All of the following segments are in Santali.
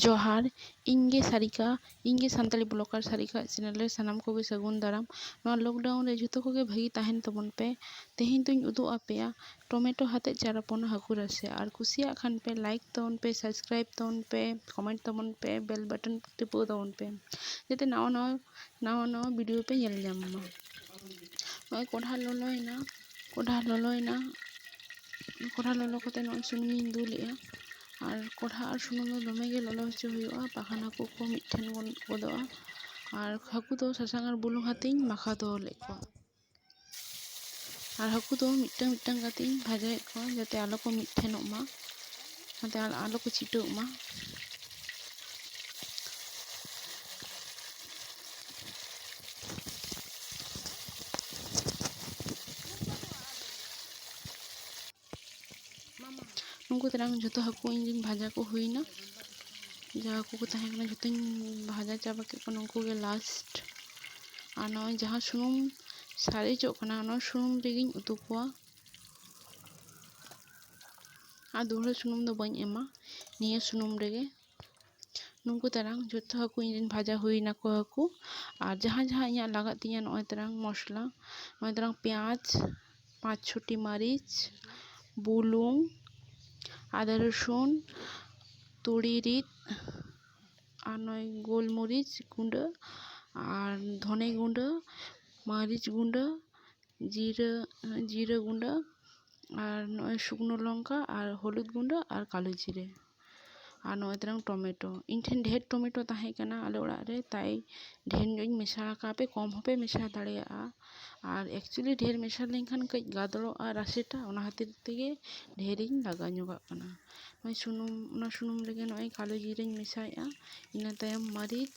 ᱡᱚᱦᱟᱨ ᱤᱧ ᱜᱮ ᱥᱟᱨᱤᱠᱟ ᱤᱧ ᱜᱮ ᱥᱟᱱᱛᱟᱲᱤ ᱵᱞᱚᱜᱟᱨ ᱥᱟᱨᱤᱠᱟ ᱟᱜ ᱪᱮᱱᱮᱞ ᱨᱮ ᱥᱟᱱᱟᱢ ᱠᱚᱜᱮ ᱥᱟᱹᱜᱩᱱ ᱫᱟᱨᱟᱢ ᱱᱚᱣᱟ ᱞᱚᱠᱰᱟᱣᱩᱱ ᱨᱮ ᱡᱚᱛᱚ ᱠᱚᱜᱮ ᱵᱷᱟᱹᱜᱤ ᱛᱟᱦᱮᱱ ᱛᱟᱵᱚᱱ ᱯᱮ ᱛᱮᱦᱮᱧ ᱫᱚᱧ ᱩᱫᱩᱜ ᱟᱯᱮᱭᱟ ᱴᱚᱢᱮᱴᱳ ᱟᱛᱮᱫ ᱪᱟᱨᱟᱯᱚᱱ ᱦᱟᱹᱠᱩ ᱨᱟᱥᱮ ᱟᱨ ᱠᱩᱥᱤᱭᱟᱜ ᱠᱷᱟᱱ ᱯᱮ ᱞᱟᱭᱤᱠ ᱛᱟᱵᱚᱱ ᱯᱮ ᱥᱟᱵᱥᱠᱨᱟᱭᱤᱵᱽ ᱛᱟᱵᱚᱱ ᱯᱮ ᱠᱚᱢᱮᱱᱴ ᱛᱟᱵᱚᱱ ᱯᱮ ᱵᱮᱞ ᱵᱟᱴᱚᱱ ᱴᱤᱯᱟᱹᱣ ᱛᱟᱵᱚᱱ ᱯᱮ ᱡᱟᱛᱮ ᱱᱟᱣᱟ ᱱᱟᱣᱟ ᱱᱟᱣᱟ ᱱᱟᱣᱟ ᱵᱷᱤᱰᱭᱳ ᱯᱮ ᱧᱮᱞ ᱧᱟᱢ ᱢᱟ ᱱᱚᱜᱼᱚᱭ ᱠᱚᱲᱦᱟ ᱞᱚᱞᱚᱭᱮᱱᱟ ᱠᱚᱲᱦᱟ ᱞᱚᱞᱚᱭᱮᱱᱟ ᱠᱚᱲᱦᱟ ᱞᱚᱞᱚ ᱠᱟᱛᱮᱫ ᱱᱚᱜᱼᱚᱭ ᱥᱩᱱᱩᱢᱤᱧ ᱫᱩᱞᱮᱫᱼᱟ ᱟᱨ ᱠᱚᱲᱦᱟ ᱟᱨ ᱥᱩᱱᱩᱢ ᱫᱚ ᱫᱚᱢᱮ ᱜᱮ ᱞᱚᱞᱚ ᱦᱚᱪᱚ ᱦᱩᱭᱩᱜᱼᱟ ᱵᱟᱠᱷᱟᱱ ᱦᱟᱹᱠᱩ ᱠᱚ ᱢᱤᱫ ᱴᱷᱮᱱ ᱜᱚᱫᱚᱜᱼᱟ ᱟᱨ ᱦᱟᱹᱠᱩ ᱫᱚ ᱥᱟᱥᱟᱝ ᱟᱨ ᱵᱩᱞᱩᱝ ᱟᱛᱮᱧ ᱢᱟᱠᱷᱟᱣ ᱫᱚᱦᱚ ᱞᱮᱫ ᱠᱚᱣᱟ ᱟᱨ ᱦᱟᱹᱠᱩ ᱫᱚ ᱢᱤᱫᱴᱟᱹᱝ ᱢᱤᱫᱴᱟᱹᱝ ᱠᱟᱛᱮᱫ ᱤᱧ ᱵᱷᱟᱡᱟᱭᱮᱫ ᱠᱚᱣᱟ ᱡᱟᱛᱮ ᱟᱞᱚ ᱠᱚ ᱢᱤᱫ ᱴᱷᱮᱱᱚᱜ ᱢᱟ ᱡᱟᱛᱮ ᱟᱞᱚ ᱠᱚ ᱪᱷᱤᱴᱟᱹᱜ ᱢᱟ ᱩᱱᱠᱩ ᱛᱮᱱᱟᱝ ᱡᱚᱛᱚ ᱦᱟᱹᱠᱩ ᱤᱧ ᱨᱮᱱ ᱵᱷᱟᱡᱟ ᱠᱚ ᱦᱩᱭᱱᱟ ᱡᱟᱦᱟᱸ ᱦᱟᱹᱠᱩ ᱠᱚ ᱛᱟᱦᱮᱸ ᱠᱟᱱᱟ ᱡᱚᱛᱚᱧ ᱵᱷᱟᱡᱟ ᱪᱟᱵᱟ ᱠᱮᱫ ᱠᱚᱣᱟ ᱱᱩᱠᱩ ᱜᱮ ᱞᱟᱥᱴ ᱟᱨ ᱱᱚᱜᱼᱚᱭ ᱡᱟᱦᱟᱸ ᱥᱩᱱᱩᱢ ᱥᱟᱨᱮᱡᱚᱜ ᱠᱟᱱᱟ ᱚᱱᱟ ᱥᱩᱱᱩᱢ ᱨᱮᱜᱮᱧ ᱩᱛᱩ ᱠᱚᱣᱟ ᱟᱨ ᱫᱩᱦᱲᱟᱹ ᱥᱩᱱᱩᱢ ᱫᱚ ᱵᱟᱹᱧ ᱮᱢᱟ ᱱᱤᱭᱟᱹ ᱥᱩᱱᱩᱢ ᱨᱮᱜᱮ ᱱᱩᱠᱩ ᱛᱟᱨᱟᱝ ᱡᱚᱛᱚ ᱦᱟᱹᱠᱩ ᱤᱧ ᱨᱮᱱ ᱵᱷᱟᱡᱟ ᱦᱩᱭ ᱱᱟᱠᱚ ᱦᱟᱹᱠᱩ ᱟᱨ ᱡᱟᱦᱟᱸ ᱡᱟᱦᱟᱸ ᱤᱧᱟᱹᱜ ᱞᱟᱜᱟᱜ ᱛᱤᱧᱟᱹ ᱱᱚᱜᱼᱚᱭ ᱛᱟᱨᱟᱝ ᱢᱚᱥᱞᱟ ᱱᱚᱜᱼᱚᱭ ᱛᱟᱨᱟᱝ ᱯᱮᱸᱭᱟᱡᱽ ᱯᱟᱸᱪ ᱪᱷᱚᱴᱤ ᱢᱟᱹᱨᱤᱪ ᱵᱩᱞᱩᱝ ᱟᱫᱟ ᱨᱚᱥᱩᱱ ᱛᱩᱲᱤ ᱨᱤᱫ ᱟᱨ ᱱᱚᱜᱼᱚᱭ ᱜᱳᱞ ᱢᱚᱨᱤᱪ ᱜᱩᱸᱰᱟᱹ ᱟᱨ ᱫᱷᱚᱱᱮ ᱜᱩᱸᱰᱟᱹ ᱢᱟᱹᱨᱤᱪ ᱜᱩᱸᱰᱟᱹ ᱡᱤᱨᱟᱹ ᱡᱤᱨᱟᱹ ᱜᱩᱸᱰᱟᱹ ᱟᱨ ᱱᱚᱜᱼᱚᱭ ᱥᱩᱠᱱᱳ ᱞᱚᱝᱠᱟ ᱟᱨ ᱦᱚᱞᱩᱫ ᱜᱩᱸᱰᱟᱹ ᱟᱨ ᱠᱟᱞᱳ ᱡᱤᱨᱮ ᱟᱨ ᱱᱚᱜᱼᱚᱭ ᱛᱟᱞᱟᱝ ᱴᱚᱢᱮᱴᱳ ᱤᱧ ᱴᱷᱮᱱ ᱰᱷᱮᱨ ᱴᱚᱢᱮᱴᱳ ᱛᱟᱦᱮᱸ ᱠᱟᱱᱟ ᱟᱞᱮ ᱚᱲᱟᱜ ᱨᱮ ᱛᱟᱭ ᱰᱷᱮᱨ ᱧᱚᱜ ᱤᱧ ᱢᱮᱥᱟ ᱟᱠᱟᱫᱼᱟ ᱠᱚᱢ ᱦᱚᱸᱯᱮ ᱢᱮᱥᱟ ᱫᱟᱲᱮᱭᱟᱜᱼᱟ ᱟᱨ ᱮᱠᱪᱩᱞᱞᱤ ᱰᱷᱮᱨ ᱢᱮᱥᱟ ᱞᱮᱱᱠᱷᱟᱱ ᱠᱟᱹᱡ ᱜᱟᱫᱽᱲᱚᱜᱼᱟ ᱨᱟᱥᱮᱴᱟ ᱚᱱᱟ ᱠᱷᱟᱹᱛᱤᱨ ᱛᱮᱜᱮ ᱰᱷᱮᱨᱤᱧ ᱞᱟᱜᱟᱣ ᱧᱚᱜᱟᱜ ᱠᱟᱱᱟ ᱱᱚᱜᱼᱚᱭ ᱥᱩᱱᱩᱢ ᱚᱱᱟ ᱥᱩᱱᱩᱢ ᱨᱮᱜᱮ ᱱᱚᱜᱼᱚᱭ ᱠᱟᱞᱳ ᱡᱤᱨᱟᱹᱧ ᱢᱮᱥᱟᱭᱮᱫᱼᱟ ᱤᱱᱟᱹ ᱛᱟᱭᱚᱢ ᱢᱟᱹᱨᱤᱪ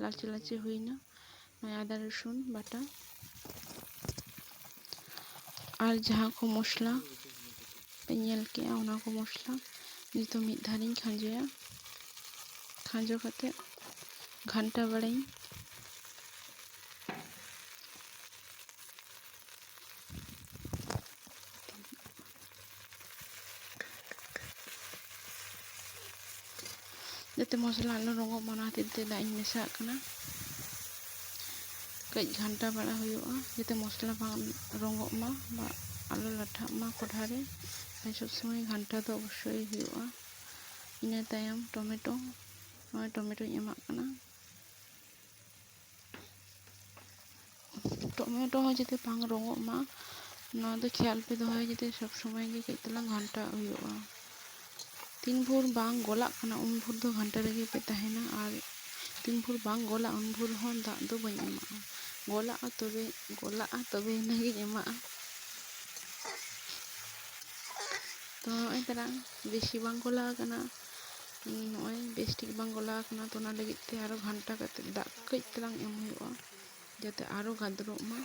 ᱞᱟᱞᱪᱮ ᱞᱟᱞᱪᱮ ᱦᱩᱭᱱᱟ ᱱᱚᱜᱼᱚᱭ ᱟᱫᱟ ᱨᱚᱥᱩᱱ ᱵᱟᱴᱟ ᱟᱨ ᱡᱟᱦᱟᱸ ᱠᱚ ᱢᱚᱥᱞᱟ ᱯᱮ ᱧᱮᱞ ᱠᱮᱜᱼᱟ ᱚᱱᱟ ᱠᱚ ᱢᱚᱥᱞᱟ ᱱᱤᱛᱚᱜ ᱢᱤᱫ ᱫᱷᱟᱣ ᱤᱧ ᱠᱷᱟᱸᱡᱚᱭᱟ ᱠᱷᱟᱸᱡᱚ ᱠᱟᱛᱮ ᱜᱷᱟᱱᱴᱟ ᱵᱟᱲᱟᱧ ᱡᱟᱛᱮ ᱢᱚᱥᱞᱟ ᱟᱞᱚ ᱨᱚᱸᱜᱚᱜ ᱢᱟ ᱚᱱᱟ ᱠᱷᱟᱹᱛᱤᱨ ᱛᱮ ᱫᱟᱜ ᱤᱧ ᱢᱮᱥᱟᱜ ᱠᱟᱱᱟ ᱠᱟᱹᱡ ᱜᱷᱟᱱᱴᱟ ᱵᱟᱲᱟ ᱦᱩᱭᱩᱜᱼᱟ ᱡᱟᱛᱮ ᱢᱚᱥᱞᱟ ᱵᱟᱝ ᱨᱚᱸᱜᱚᱜ ᱢᱟ ᱵᱟ ᱟᱞᱚ ᱞᱟᱴᱷᱟᱜ ᱢᱟ ᱠᱚᱰᱷᱟ ᱨᱮ ᱛᱟᱦᱮᱸ ᱥᱚᱵ ᱥᱚᱢᱚᱭ ᱜᱷᱟᱱᱴᱟ ᱫᱚ ᱚᱵᱚᱥᱥᱳᱭ ᱦᱩᱭᱩᱜᱼᱟ ᱤᱱᱟᱹ ᱛᱟᱭᱚᱢ ᱴᱚᱢᱮᱴᱳ ᱱᱚᱜᱼᱚᱭ ᱴᱚᱢᱮᱴᱳᱧ ᱮᱢᱟᱜ ᱠᱟᱱᱟ ᱴᱚᱢᱮᱴᱳ ᱦᱚᱸ ᱡᱟᱛᱮ ᱵᱟᱝ ᱨᱚᱸᱜᱚᱜ ᱢᱟ ᱱᱚᱣᱟ ᱫᱚ ᱠᱷᱮᱭᱟᱞ ᱯᱮ ᱫᱚᱦᱚᱭᱟ ᱡᱟᱛᱮ ᱥᱚᱵᱽ ᱥᱚᱢᱚᱭ ᱜᱮ ᱠᱟᱹᱡ ᱛᱟᱞᱟᱝ ᱜᱷᱟᱱᱴᱟ ᱦᱩᱭᱩᱜᱼᱟ ᱛᱤᱱ ᱵᱷᱳᱨ ᱵᱟᱝ ᱜᱚᱞᱟᱜ ᱠᱟᱱᱟ ᱩᱱ ᱵᱷᱳᱨ ᱫᱚ ᱜᱷᱟᱱᱴᱟ ᱨᱮᱜᱮ ᱯᱮ ᱛᱟᱦᱮᱱᱟ ᱟᱨ ᱛᱤᱱ ᱵᱷᱳᱨ ᱵᱟᱝ ᱜᱚᱞᱟᱜᱼᱟ ᱩᱱ ᱵᱷᱳᱨ ᱦᱚᱸ ᱫᱟᱜ ᱫᱚ ᱵᱟᱹᱧ ᱮᱢᱟᱜᱼᱟ ᱜᱚᱞᱟᱜᱼᱟ ᱛᱚᱵᱮ ᱜᱚᱞᱟᱜᱼᱟ ᱛᱚᱵᱮ ᱟᱱᱟᱝ ᱜᱤᱧ ᱮᱢᱟᱜᱼᱟ ᱛᱚ ᱱᱚᱜᱼᱚᱭ ᱛᱟᱞᱟᱝ ᱵᱮᱥᱤ ᱵᱟᱝ ᱜᱚᱞᱟᱣ ᱠᱟᱱᱟ ᱱᱚᱜᱼᱚᱭ ᱵᱮᱥ ᱴᱷᱤᱠ ᱵᱟᱝ ᱜᱚᱞᱟᱣ ᱟᱠᱟᱱᱟ ᱛᱚ ᱚᱱᱟ ᱞᱟᱹᱜᱤᱫ ᱛᱮ ᱟᱨᱚ ᱜᱷᱟᱱᱴᱟ ᱠᱟᱛᱮ ᱫᱟᱜ ᱠᱟᱹᱡ ᱛᱟᱞᱟᱝ ᱮᱢ ᱦᱩᱭᱩᱜᱼᱟ ᱡᱟᱛᱮ ᱟᱨᱚ ᱜᱟᱫᱽᱨᱚᱜ ᱢᱟ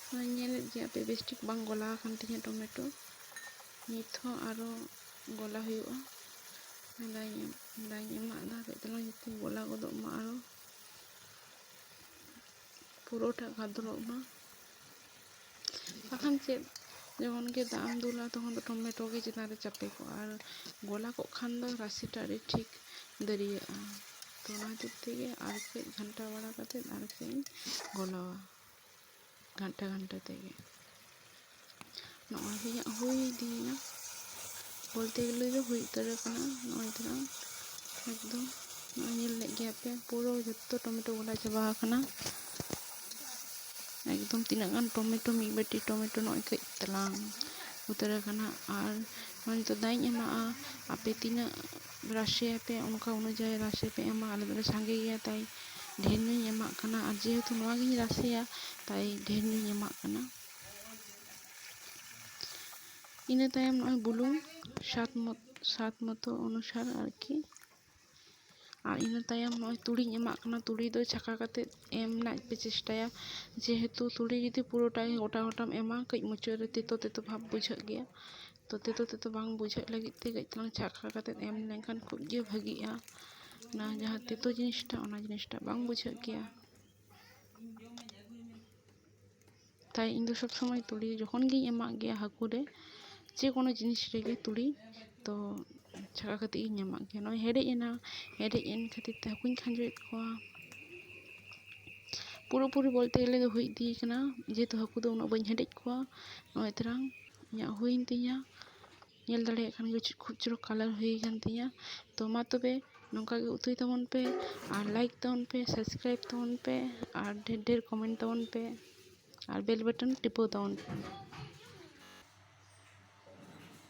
ᱱᱚᱜᱼᱚᱭ ᱧᱮᱞᱮᱫ ᱜᱮᱭᱟ ᱯᱮ ᱵᱮᱥ ᱴᱷᱤᱠ ᱵᱟᱝ ᱜᱚᱞᱟᱣ ᱟᱠᱟᱱ ᱛᱤᱧᱟᱹ ᱴᱚᱢᱮᱴᱳ ᱱᱤᱛ ᱦᱚᱸ ᱟᱨᱚ ᱜᱚᱞᱟ ᱦᱩᱭᱩᱜᱼᱟ ᱫᱟᱜ ᱫᱟᱜ ᱮᱢᱟᱜ ᱫᱟ ᱠᱟᱹᱡ ᱛᱟᱞᱟᱝ ᱡᱟᱛᱮ ᱜᱚᱞᱟ ᱜᱚᱫᱚᱜ ᱢᱟ ᱟᱨᱚ ᱯᱩᱨᱟᱹᱴᱟᱜ ᱜᱟᱫᱽᱨᱚᱜ ᱢᱟ ᱵᱟᱠᱷᱟᱱ ᱪᱮᱫ ᱡᱮᱢᱚᱱ ᱜᱮ ᱫᱟᱜ ᱮᱢ ᱫᱩᱞᱟ ᱛᱚᱠᱷᱚᱱ ᱫᱚ ᱴᱚᱢᱮᱴᱳ ᱜᱮ ᱪᱮᱛᱟᱱ ᱨᱮ ᱪᱟᱯᱮ ᱠᱚᱜᱼᱟ ᱟᱨ ᱜᱚᱞᱟ ᱠᱚᱜ ᱠᱷᱟᱱ ᱫᱚ ᱨᱟᱥᱮ ᱴᱟᱜ ᱟᱹᱰᱤ ᱴᱷᱤᱠ ᱫᱟᱹᱨᱭᱟᱹᱜᱼᱟ ᱛᱚ ᱚᱱᱟ ᱠᱷᱟᱹᱛᱤᱨ ᱛᱮᱜᱮ ᱟᱨ ᱠᱟᱹᱡ ᱜᱷᱟᱱᱴᱟ ᱵᱟᱲᱟ ᱠᱟᱛᱮ ᱟᱨ ᱠᱟᱹᱡ ᱤᱧ ᱜᱚᱞᱟᱣᱟ ᱜᱷᱟᱱᱴᱟ ᱜᱷᱟᱱᱴᱟ ᱛᱮᱜᱮ ᱱᱚᱜᱼᱚᱭ ᱤᱧᱟᱹᱜ ᱦᱩᱭ ᱤᱫᱤᱭᱮᱱᱟ ᱵᱚᱞᱛᱮ ᱜᱮᱞᱮ ᱫᱚ ᱦᱩᱭ ᱩᱛᱟᱹᱨ ᱟᱠᱟᱱᱟ ᱱᱚᱜᱼᱚᱭ ᱛᱚᱨᱟ ᱮᱠᱫᱚᱢ ᱱᱚᱜᱼᱚᱭ ᱧᱮᱞ ᱞᱮᱫ ᱜᱮᱭᱟ ᱯᱮ ᱯᱩᱨᱟᱹ ᱡᱚᱛᱚ ᱴᱚᱢᱮᱴᱳ ᱜᱚᱞᱟ ᱪᱟᱵᱟ ᱟᱠᱟᱱᱟ ᱮᱠᱫᱚᱢ ᱛᱤᱱᱟᱹᱜ ᱜᱟᱱ ᱴᱚᱢᱮᱴᱳ ᱢᱤᱫ ᱵᱟᱹᱴᱤ ᱴᱚᱢᱮᱴᱳ ᱱᱚᱜᱼᱚᱭ ᱠᱟᱹᱡ ᱪᱟᱞᱟᱝ ᱩᱛᱟᱹᱨ ᱟᱠᱟᱱᱟ ᱟᱨ ᱱᱚᱜᱼᱚᱭ ᱱᱤᱛᱚᱜ ᱫᱟᱜ ᱤᱧ ᱮᱢᱟᱜᱼᱟ ᱟᱯᱮ ᱛᱤᱱᱟᱹᱜ ᱨᱟᱥᱮᱭᱟᱯᱮ ᱚᱱᱠᱟ ᱚᱱᱩᱡᱟᱭᱤ ᱨᱟᱥᱮ ᱯᱮ ᱮᱢᱟ ᱟᱞᱮ ᱫᱚᱞᱮ ᱥᱟᱸᱜᱮ ᱜᱮᱭᱟ ᱛᱟᱭ ᱰᱷᱮᱨ ᱧᱚᱜ ᱤᱧ ᱮᱢᱟᱜ ᱠᱟᱱᱟ ᱟᱨ ᱡᱮᱦᱮᱛᱩ ᱱᱚᱣᱟ ᱜᱤᱧ ᱨᱟᱥᱮᱭᱟ ᱛᱟᱭ ᱰᱷᱮᱨ ᱧᱚᱜ ᱤᱧ ᱮᱢᱟᱜ ᱠᱟᱱᱟ ᱤᱱᱟᱹ ᱛᱟᱭᱚᱢ ᱱᱚᱜᱼᱚᱭ ᱵᱩᱞᱩᱝ ᱥᱟᱫᱽ ᱢᱚᱛᱚ ᱥᱟᱫᱽ ᱢᱚᱛᱚ ᱚᱱᱩᱥᱟᱨ ᱟᱨᱠᱤ ᱟᱨ ᱤᱱᱟᱹ ᱛᱟᱭᱚᱢ ᱱᱚᱜᱼᱚᱭ ᱛᱩᱲᱤᱧ ᱮᱢᱟᱜ ᱠᱟᱱᱟ ᱛᱩᱲᱤ ᱫᱚ ᱪᱷᱟᱸᱠᱟ ᱠᱟᱛᱮ ᱮᱢ ᱨᱮᱱᱟᱜ ᱯᱮ ᱪᱮᱥᱴᱟᱭᱟ ᱡᱮᱦᱮᱛᱩ ᱛᱩᱲᱤ ᱡᱩᱫᱤ ᱯᱩᱨᱟᱹᱴᱟ ᱜᱮ ᱜᱚᱴᱟ ᱜᱚᱴᱟᱢ ᱮᱢᱟ ᱠᱟᱹᱡ ᱢᱩᱪᱟᱹᱫ ᱨᱮ ᱛᱮᱛᱚ ᱛᱮᱛᱚ ᱵᱷᱟᱵᱽ ᱵᱩᱡᱷᱟᱹᱜ ᱜᱮᱭᱟ ᱛᱚ ᱛᱮᱛᱚ ᱛᱮᱛᱚ ᱵᱟᱝ ᱵᱩᱡᱷᱟᱹᱜ ᱞᱟᱹᱜᱤᱫ ᱛᱮ ᱠᱟᱹᱡ ᱪᱩᱞᱩᱝ ᱪᱷᱟᱸᱠᱟ ᱠᱟᱛᱮ ᱮᱢ ᱞᱮᱠᱷᱟᱱ ᱠᱷᱩᱵ ᱜᱮ ᱵᱷᱟᱹᱜᱤᱜᱼᱟ ᱚᱱᱟ ᱡᱟᱦᱟᱸ ᱛᱮᱛᱚ ᱡᱤᱱᱤᱥᱴᱟ ᱚᱱᱟ ᱡᱤᱱᱤᱥᱴᱟ ᱵᱟᱝ ᱵᱩᱡᱷᱟᱹᱜ ᱜᱮᱭᱟ ᱛᱟᱭ ᱤᱧ ᱫᱚ ᱥᱚᱵᱽ ᱥᱚᱢᱚᱭ ᱛᱩᱲᱤ ᱡᱚᱠᱷᱚᱱ ᱜᱤᱧ ᱮᱢᱟᱜ ᱜᱮᱭᱟ ᱦᱟᱹᱠᱩ ᱨᱮ ᱡᱮ ᱠᱳᱱᱳ ᱡᱤᱱᱤᱥ ᱨᱮᱜᱮ ᱛᱩᱲᱤ ᱛᱚ ᱪᱷᱟᱸᱠᱟ ᱠᱟᱛᱮᱫ ᱜᱤᱧ ᱮᱢᱟᱜ ᱜᱮᱭᱟ ᱱᱚᱜᱼᱚᱭ ᱦᱮᱰᱮᱡ ᱮᱱᱟ ᱦᱮᱰᱮᱡ ᱮᱱ ᱠᱷᱟᱹᱛᱤᱨ ᱛᱮ ᱦᱟᱹᱠᱩᱧ ᱠᱷᱟᱸᱡᱚᱭᱮᱫ ᱠᱚᱣᱟ ᱯᱩᱨᱟᱹ ᱯᱩᱨᱤ ᱵᱚᱞᱛᱮ ᱜᱮᱞᱮ ᱫᱚ ᱦᱩᱭ ᱤᱫᱤᱭ ᱠᱟᱱᱟ ᱡᱮᱦᱮᱛᱩ ᱦᱟᱹᱠᱩ ᱫᱚ ᱩᱱᱟᱹᱜ ᱵᱟᱹᱧ ᱦᱮᱰᱮᱡ ᱠᱚᱣᱟ ᱱᱚᱜᱼᱚᱭ ᱛᱚᱨᱟᱝ ᱤᱧᱟᱹᱜ ᱦᱩᱭᱮᱱ ᱛᱤᱧᱟᱹ ᱧᱮᱞ ᱫᱟᱲᱮᱭᱟᱜ ᱠᱷᱟᱱ ᱜᱮ ᱪᱮᱫ ᱠᱷᱩᱵ ᱪᱚᱨᱚᱠ ᱠᱟᱞᱟᱨ ᱦᱩᱭ ᱟᱠᱟᱱ ᱛᱤᱧᱟᱹ ᱛᱚ ᱢᱟ ᱛᱚᱵᱮ ᱱᱚᱝᱠᱟ ᱜᱮ ᱩᱛᱩᱭ ᱛᱟᱵᱚᱱ ᱯᱮ ᱟᱨ ᱞᱟᱭᱤᱠ ᱛᱟᱵᱚᱱ ᱯᱮ ᱥᱟᱵᱥᱠᱨᱟᱭᱤᱵ ᱛᱟᱵᱚᱱ ᱯᱮ ᱟᱨ ᱰᱷᱮᱨ ᱰᱷᱮᱨ ᱠᱚᱢᱮᱱᱴ ᱛᱟᱵᱚᱱ ᱯᱮ ᱟᱨ ᱵᱮᱞ ᱵᱟᱴᱚᱱ ᱴᱤᱯᱟᱹᱣ ᱛᱟᱵᱚᱱ ᱯᱮ